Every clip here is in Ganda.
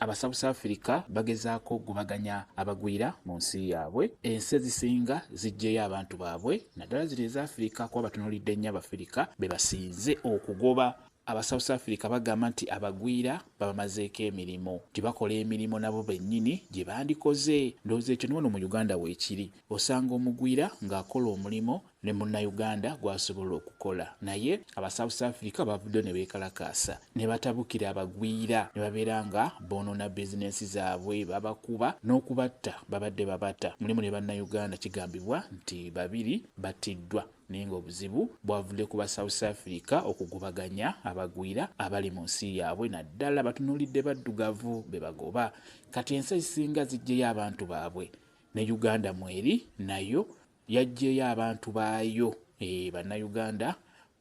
Aba South Africa bagezaako okugobaganya abagwira mu nsi yaabwe. Ensi ezisinga ziggyeyo abantu baabwe naddala zino eza Afirika kuba batunuulidde nnyo Abafirika be basinze okugoba aba south africa bagamba nti abagwira babamazeeko emirimu nti bakola emirimu nabo bennyini gye bandikoze ndowooza ekyo niwano mu uganda weekiri osanga omugwira ng'akola omulimu ne Munnayuganda gw'asobola okukola naye aba South Africa bavuddeyo ne beekalakaasa ne batabukira abagwira ne babeera nga boonoona bizinensi zaabwe, babakuba n'okubatta babadde babata mulimu ne Bannayuganda kigambibwa nti babiri battiddwa naye ng'obuzibu bwavudde ku ba South Africa okugobaganya abagwira abali mu nsi yaabwe naddala batunuulidde baddugavu be bagoba kati ensi ezisinga ziggyeyo abantu baabwe ne Uganda mweri nayo Yaggyeeyo abantu baayo, eeh Bannayuganda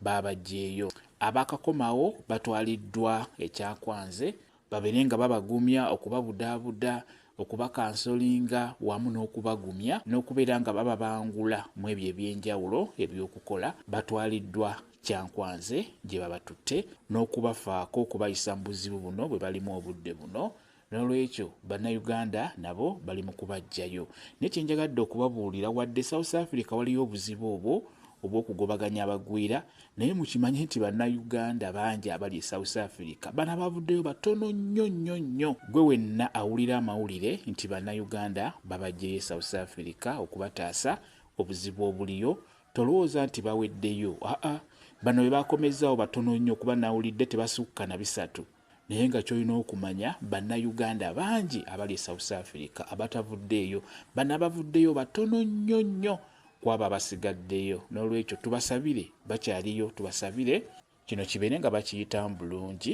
baabaggyeeyo. Abaakakomawo batwaliddwa e Kyakwanze babeere nga babagumya, okubabudaabuda, okubakansolinga wamu n'okubagumya n'okubeera nga bababangula mw'ebyo eby'enjawulo eby'okukola. Batwaliddwa Kyankwanze gye babatutte n'okubafaako okubayisa mu buzibu buno bwe balimu obudde buno. Nolwekyo bannayuganda nabo bali mu kubajjayo. Naye kye njagadde okubabuulira wadde South Africa waliyo obuzibu obwo obw'okugobaganya abagwira naye mukimanye nti bannayuganda bangi abali e South Africa. Bano abaavuddeyo batono nnyo nnyo nnyo. Ggwe wenna awulira amawulire nti bannayuganda babajjeyo e South Africa okubataasa obuzibu obuliyo tolowooza nti baweddeyo aa bano be baakomezzaawo batono nnyo kuba nawulidde tebasukka na bisatu. Naye nga kyolina okumanya banna Uganda bangi abali e South Africa abatavuddeeyo, bano abavuddeyo batono nnyo nnyo kwabo abasigaddeyo, nolwekyo tubasabire bakyaliyo tubasabire kino kibeere nga bakiyitamu bulungi.